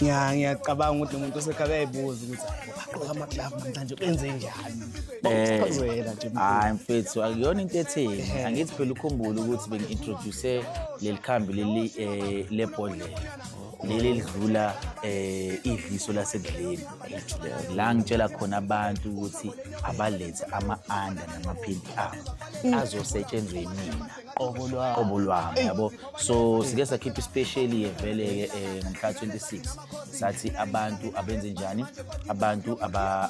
Ya ngiyacabanga ukuthi umuntu osekhaya uyayibuza ukuthi ugqoka amaglove namhlanje kwenze njani. Bakuchazela nje. Hayi mfethu akuyona into etheni. Angithi phela ukhumbule ukuthi bengi-introduce leli khambi leli eh, lebhodlela. leli lidlula eh idliso lasedleni la ngitshela khona abantu ukuthi abalethe ama-under namaphimpi abo azosetshenzwe yimina qobo lwami qobo lwami yabo so sike sakhipha ispecial yevele ke eh, ngomhla 26 sathi abantu abenze njani abantu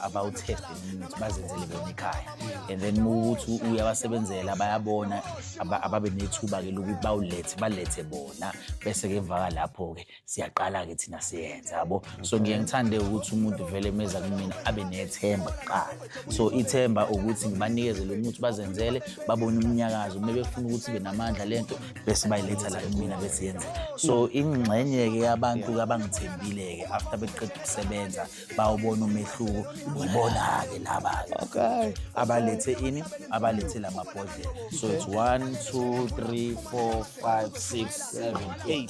abawutest imithi bazenzele bona ekhaya and then ukuthi uyabasebenzela bayabona ababe nethuba ke lokuthi bawulethe balethe bona bese ke emva lapho ke siyaqala-ke thina siyenza yabo so ngiye ngithande ukuthi umuntu vele meza kumina abe nethemba kuqala so ithemba ukuthi ngibanikeze lo muthi bazenzele babone umnyakazo uma befuna ukuthi ibe namandla le nto bese bayiletha la kumina bese yenzeka so ingxenye-ke yabantu abangithembile-ke after beqeda ukusebenza bawubona umehluko ngibona-ke laba-ke okay. abalethe ini abalethe la mabhodlela so it's one two three four 5 6 7 8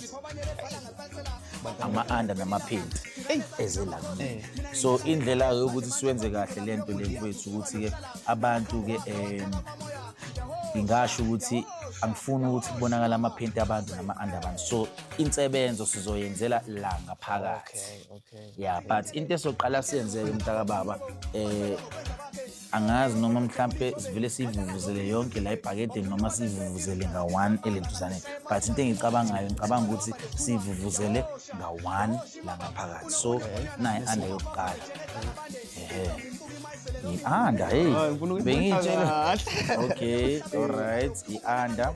ama-under namaphenti eze la eh. so indlela-ke yokuthi siwenze kahle le nto le mfowethu ukuthi-ke abantu-ke um ngingasho ukuthi angifuni ukuthi kubonakala amaphenti abantu nama-under abantu so insebenzo sizoyenzela la ngaphakathi ya but into esoqala siyenzeke mntakababa um eh, angazi noma mhlampe sivele siyivuvuzele yonke la ebhakedeni noma siyivuvuzele nga-one elentuzane but into engicabangayo ngicabanga ukuthi siyivuvuzele nga-one la ngaphakathi so naye ande yokuqala ehe i-anda hey bengiyitshela okay alright i-anda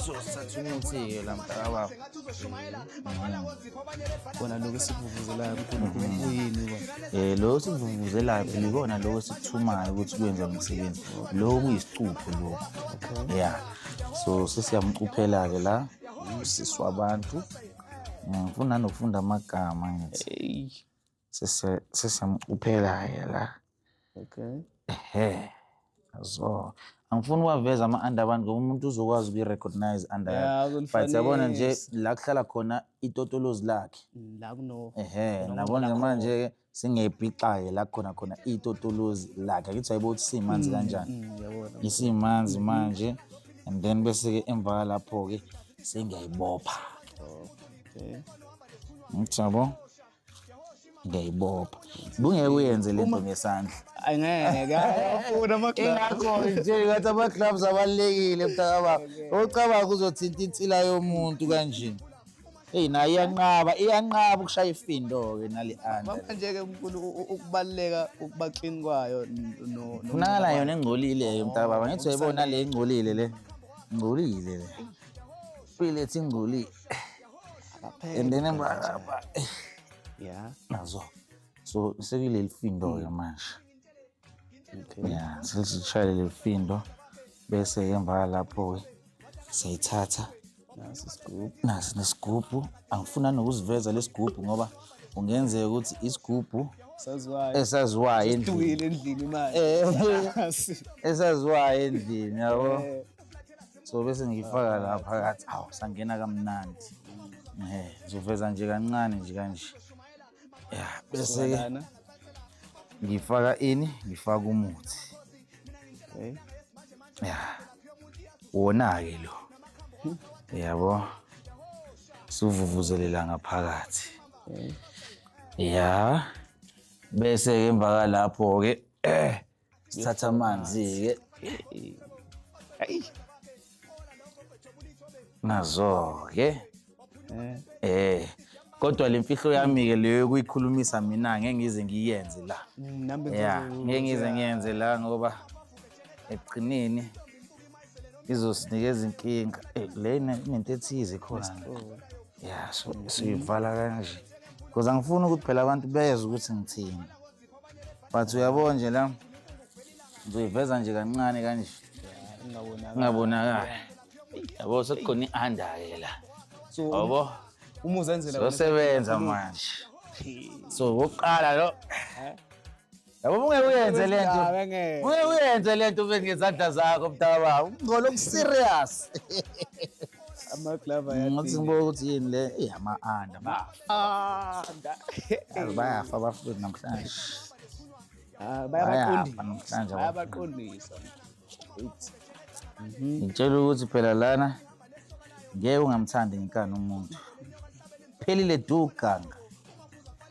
so sithatha umuthi-ke la mntakababa kona lokho esikuvuvuzelayo ukuthi uyini um lokho esikuvuvuzelayo phela ikona lokho esikuthumayo ukuthi kwenza umsebenzi lokho kuyisicupho lokho ya so sesiyamcuphela-ke la usisi wabantu ngifuna mm, nokufunda amagama ngithi sise- sisemcuphela-ke la Okay. ehe so angifuni uwaveza ama-under abantu ngoba umuntu uzokwazi ukuyi-recognize under Yeah, yakhe. but uzolifanisa. yabona nje la kuhlala khona itotolozi lakhe Mm, La kuno. ehe Noma nabona khona manje-ke singepixaye la khona khona itotolozi lakhe akithi hayibo ukuthi simanzi kanjani Mm, yabona. isimanzi manje and then bese-ke emva lapho-ke sengiyayibopha Okay. ngithi yabo ngiyayibopha kungeke uyenze le nto ngesandla angeke ayafuna ama-gloves ingakho nje ngathi ama-gloves abalulekile mntakababa ocabanga uzothinta insila yomuntu kanje eyi nayo iyanqaba iyanqaba ukushaya ifindo-ke nale anda Baba nje-ke mkhulu u- u- ukubaluleka ukuba clean kwayo n- no- no- funakala yona engcolileyo mntakababa ngithi uyayibona le ingcolile le ingcolile le ilethi ingcolile and then yeah nazo so sekuleli findo ke manje okay yeah sesishayele leli findo bese emva lapho ke siyithatha nasi isigubhu nasi nesigubhu angifuna nokuziveza lesigubhu ngoba ungenzeka ukuthi isigubhu saziwayo esaziwayo endlini endlini manje eh, esaziwayo endlini yabo eh. so bese ngiyifaka la phakathi awu sangena kamnandi um ngizoveza nje kancane nje kanje ya bese-ke ngifaka ini ngifaka umuthi okay. ya wona-ke lo yabo siwuvuvuzelela ngaphakathi okay. ya bese-ke emva kwalapho-ke eh sithatha amanzi-ke Ayi. nazo-ke Eh. eh kodwa le mfihlo yami-ke leyo yokuyikhulumisa mina ngeke ngize ngiyenze la Mm, nami ya bengizoze- ngeke ngize ngiyenze la ngoba ekugcineni izosinikeza inkinga Eh, le ine- inento ethize khona Oh. ya so- siyivala kanje because angifuni ukuthi phela abantu bezwe ukuthi ngithini but uyabo nje la ngizoyiveza nje kancane kanje ingabonakali yabo sekukhona i-under-ke la yabo sosebenza manje so wokuqala lo yabo ungeke uyenze le nto ungeke uyenze le nto ube ngezandla zakho mdala baba ungcola okuserious amaglava yathi ngibuka ukuthi yini le ama-under baba Ah, nda. Yazi bayafa abafundi namhlanje Ah, bayafa namhlanje bayabaqondisa. It's ngitshela ukuthi phela lana ngeke ungamthandi ngenkani umuntu phelile du ganga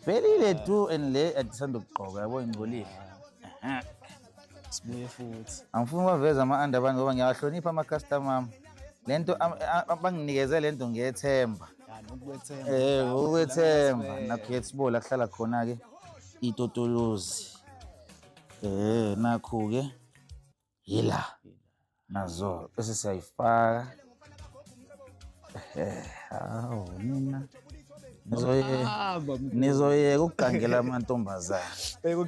phelile du and le adisanda ukugqoka yabo ingcolile sibuye futhi angifuni baveze ama-anda abantu ngoba ngiyawahlonipha ama-customer ami le nto banginikeze le nto ngiyethemba um ukwethemba nakuyethibole akuhlala khona-ke itotolozi um nakhu-ke yila nazo bese siyayifaka hawu nina nizoyeka ukugangela amantombazane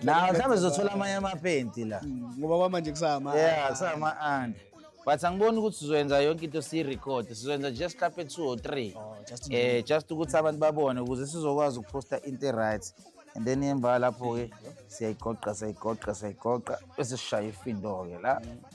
nawo mhlawumbe zizothola amanye amapenti la mm, ngoba kwamanje kusama yeah kusama-anda but angiboni ukuthi sizoyenza yonke into siyirekhode sizoyenza just hlampe two or three oh, eh just ukuthi abantu babone ukuze sizokwazi ukuphosta into e-right and then emva lapho-ke siyayigoqa siyayigoqa siyayigoqa bese sishaya ifindo-ke la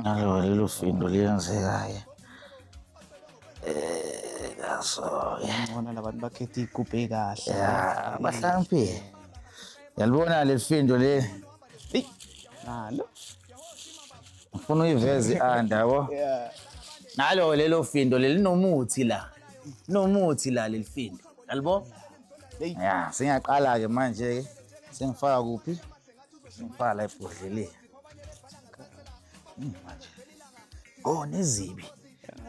Ngalo lelo findo liyenzeka-ke Eh, kaso-ke Ngibona labantu bakhetha iy'gubhu ey'kahle. ya bahlakaniphile yalibona leli findo leli Eyi, Nalo. ngifuna uyiveze i-anda yabo Yeah. nalo lelo findo leli linomuthi la linomuthi la leli findo yalibo Eyi. ya sengiyaqala-ke manje-ke sengifaka kuphi sengifaka la ebhodleleni Oh nezibi.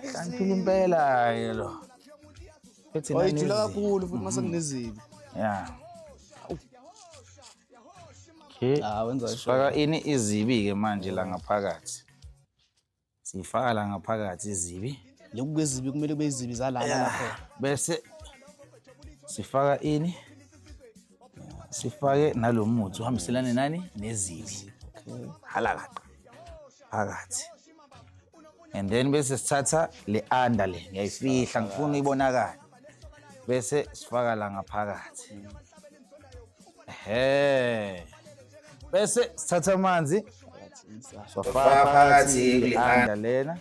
Hlaniphile impela ke lo. Ethi nani. Oyijula kakhulu futhi mase mhm. kunezibi. Yeah. Okay. Ah wenza isho. Faka ini izibi ke manje la ngaphakathi. Siyifaka la ngaphakathi izibi. Lokhu kwezibi kumele kube izibi zalana Yeah. lapho. Bese sifaka ini? Sifake nalo muthi uhambiselane nani nezibi. Okay. Halakaqa. Phakathi. And then bese sithatha le under le ngiyayifihla ngifuna uyibonakala. bese sifaka la ngaphakathi ehe bese sithatha amanzi sofaka phakathi kulihanda lena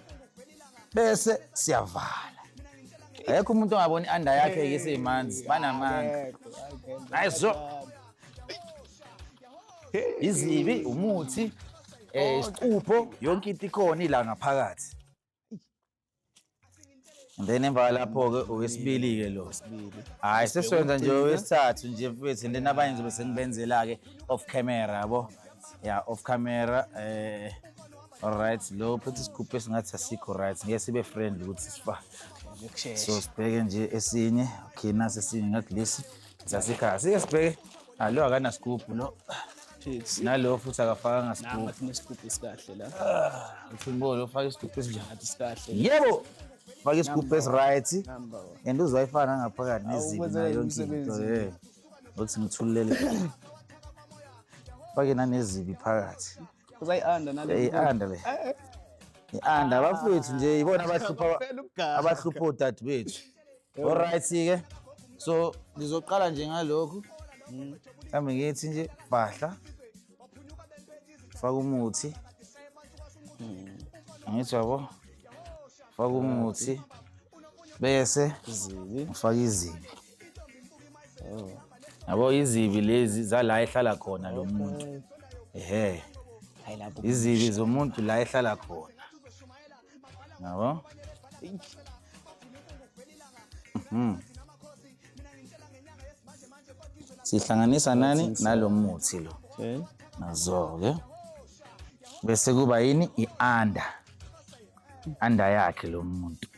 bese siyavala Ayekho umuntu ongaboni anda yakhe ke seyimanzi banamanga. Hayi so. Izibi umuthi eh isicupho yonke into ikhona ila ngaphakathi. And then emva kwalapho-ke owesibili-ke lo hhayi sesiwenza nje owesithathu nje mfethu and then abanye ngizobe sengibenzela-ke off camera yabo ya off camera eh alright lo phethe isigubhu esingathi asikho right ngeke sibe friend ukuthi sifa so sibheke nje esinye okay nasi esinye ngathi lesi sasikhala sike sibheke Alo akanasigubhu no. Pixie. Nalo futhi akafakanga sigubhu. Ngathi nesigubhu esikahle la. Ah, Uthimbo ufaka isigubhu esinjani? Ngathi sikahle. Yebo. Faka isigubhu esiright. And uzoyifana ngaphakathi nezinto nayo into. Eh. Uthi ngithulele. Fake nanezibi phakathi. Uzayi-under nale. Eyi-under le. Eh, eh. I-under abafowethu nje yibona abahlupha abahlupha odadewethu. Alright ke. So ngizoqala nje ngalokhu. Mm. Mhlawumbe ngithi nje bahla. Faka umuthi. Mm. Ngithi yabo. Faka umuthi. Bese izibi. Ufaka izibi. Oh. Yabo izibi lezi zala ehlala khona lo muntu. Ehhe. Izibi zomuntu la ehlala khona. Yabo? Mhm. Sihlanganisa nani nalo muthi lo. Okay. Nazo-ke. Bese kuba yini i-under. Under yakhe lo muntu.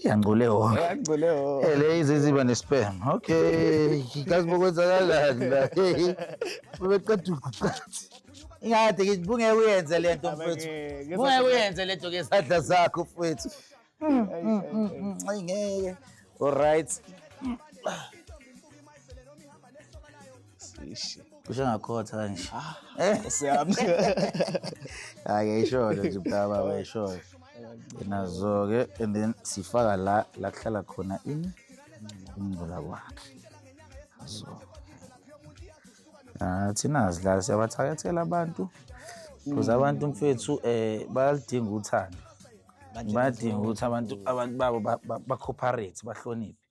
Yangcole wonke. Yangcole wonke. Ele iziziba nespam. Okay. Kazi bokwenzakalani la. Bebeqeda ukuqathi. Ingade ngithi bungeke uyenze lento mfethu. Bungeke uyenze lento ke sadla zakho mfethu. Mm, mm, mm, Ay ngeke. All right. Sishi. Kusho ngakhotha kanje. Ah, Siyami. Hayi yayisholo nje mntaba wayisholo. Nazo ke and then sifaka la la kuhlala khona ini ingcula kwakhe. So. Ah thina sidlala siyabathakathela abantu. Kuze abantu mfethu eh bayalidinga uthando. Badinga ukuthi abantu abantu babo ba- ba- bacooperate bahloniphe.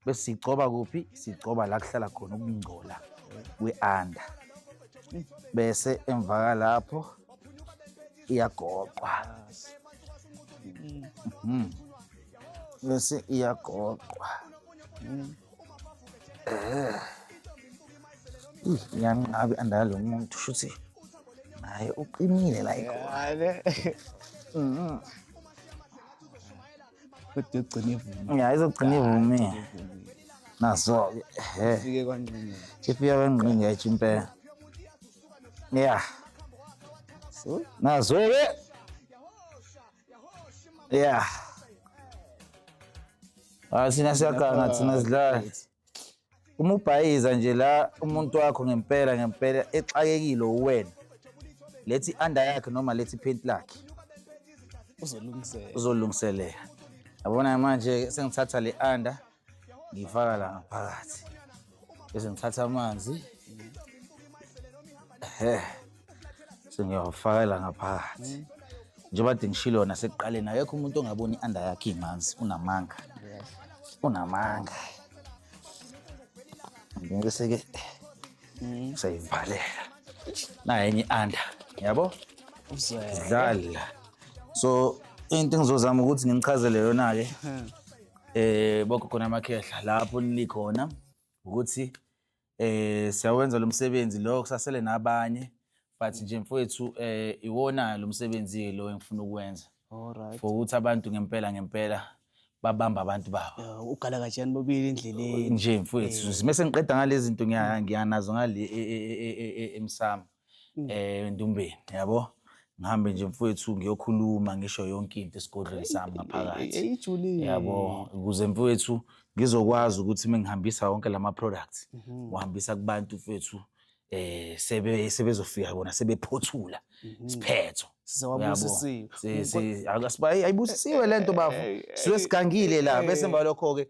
bese sigcoba kuphi sigcoba la kuhlala khona ukungcola kwe-anda bese emvaka lapho iyagoqwa mhm. bese iyagoqwa eh. iyanqabi andala lo muntu shuthi naye uqinile la ikhona mhm. kodwa yogcina ivumile ya izogcina ivumile nazo-ke he fike kwangqingela ifika kwengqinga etsho impela ya so nazo-ke ya Ah, thina siyaganga thina sidlala uma ubhayiza nje la umuntu wakho ngempela ngempela exakekile uwena lethi under yakhe noma lethi paint lakhe uzolungiselela uzolungiselela yabona manje sengithatha le under ngiyifaka la ngaphakathi bese ngithatha amanzi ehe sengiyawafakela ngaphakathi njengoba kade ngishilo yona sekuqaleni akekho umuntu ongaboni i-under yakhe imanzi unamanga unamanga ngeke seke sayivalela nayo enye i-under yabo dlala so into engizozama ukuthi nginichazele yona-ke eh bogogo namakhehla lapho nilikhona ukuthi eh siyawenza lo msebenzi lo kusasele nabanye but nje mfowethu eh iwona lo msebenzi lo engifuna ukuwenza Alright. for ukuthi abantu ngempela ngempela babamba abantu babo Eh, Ugala kajani bobili endleleni. nje mfowethu mese ngiqeda ngalezi zinto ngiya- ngiyanazo ngale e- e- e- e- e- emsamo Mm. eh endumbeni yabo ngihambe nje mfowethu ngiyokhuluma ngisho yonke into esigodlweni sami ngaphakathi eyijulile yabo ukuze mfowethu ngizokwazi ukuthi mengihambisa wonke lama products mhm. uhambisa kubantu mfowethu eh sebe sebezofika bona sebephothula mhm. isiphetho sizawabusisiwe akasibhayi ayibusisiwe lento bafo siwe sigangile la bese mbalokho ke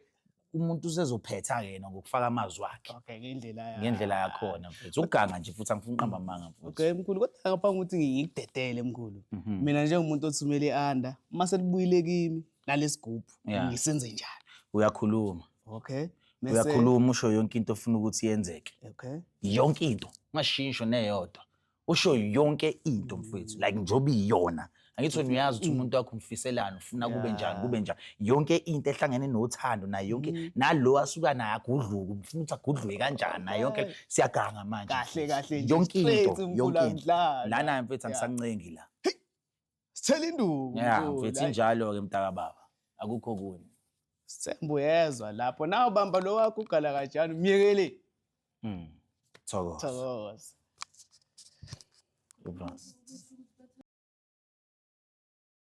umuntu usezophetha ke yena ngokufaka amazwi akhe okay ngendlela yakhe ngendlela yakhona mfethu uganga nje futhi angifuni qamba amanga mfethu okay mkhulu kodwa ngaphambi ukuthi ngikudedele mkhulu mhm. mina njengomuntu othumele ianda uma selibuyile kimi nalesigubhu ngisenze njani uyakhuluma okay uyakhuluma usho yonke into ofuna ukuthi yenzeke okay yonke into ungashintsho neyodwa usho yonke into mfowethu like njengoba iyona angithi wena uyazi ukuthi umuntu wakho umfiselani ufuna kube njani kube njani yonke into ehlangene nothando nayo yonke Mm. nalo asuka naye agudluke ufuna ukuthi agudluke kanjani nayo yonke le- siyaganga manje Kahle, mfethu. kahle nje, yonke straight into yonke into umgulamdlana. lana mfethu Yeah. angisancengi la Sithela induku. Yeah, mfowethu, mfethu hhayi. injalo-ke mntaka baba. Akukho kunye. Sithembu yezwa lapho nawe bamba lo wakho ugala kanjani myekele Mm. Thokoza. thokoza Thokoza.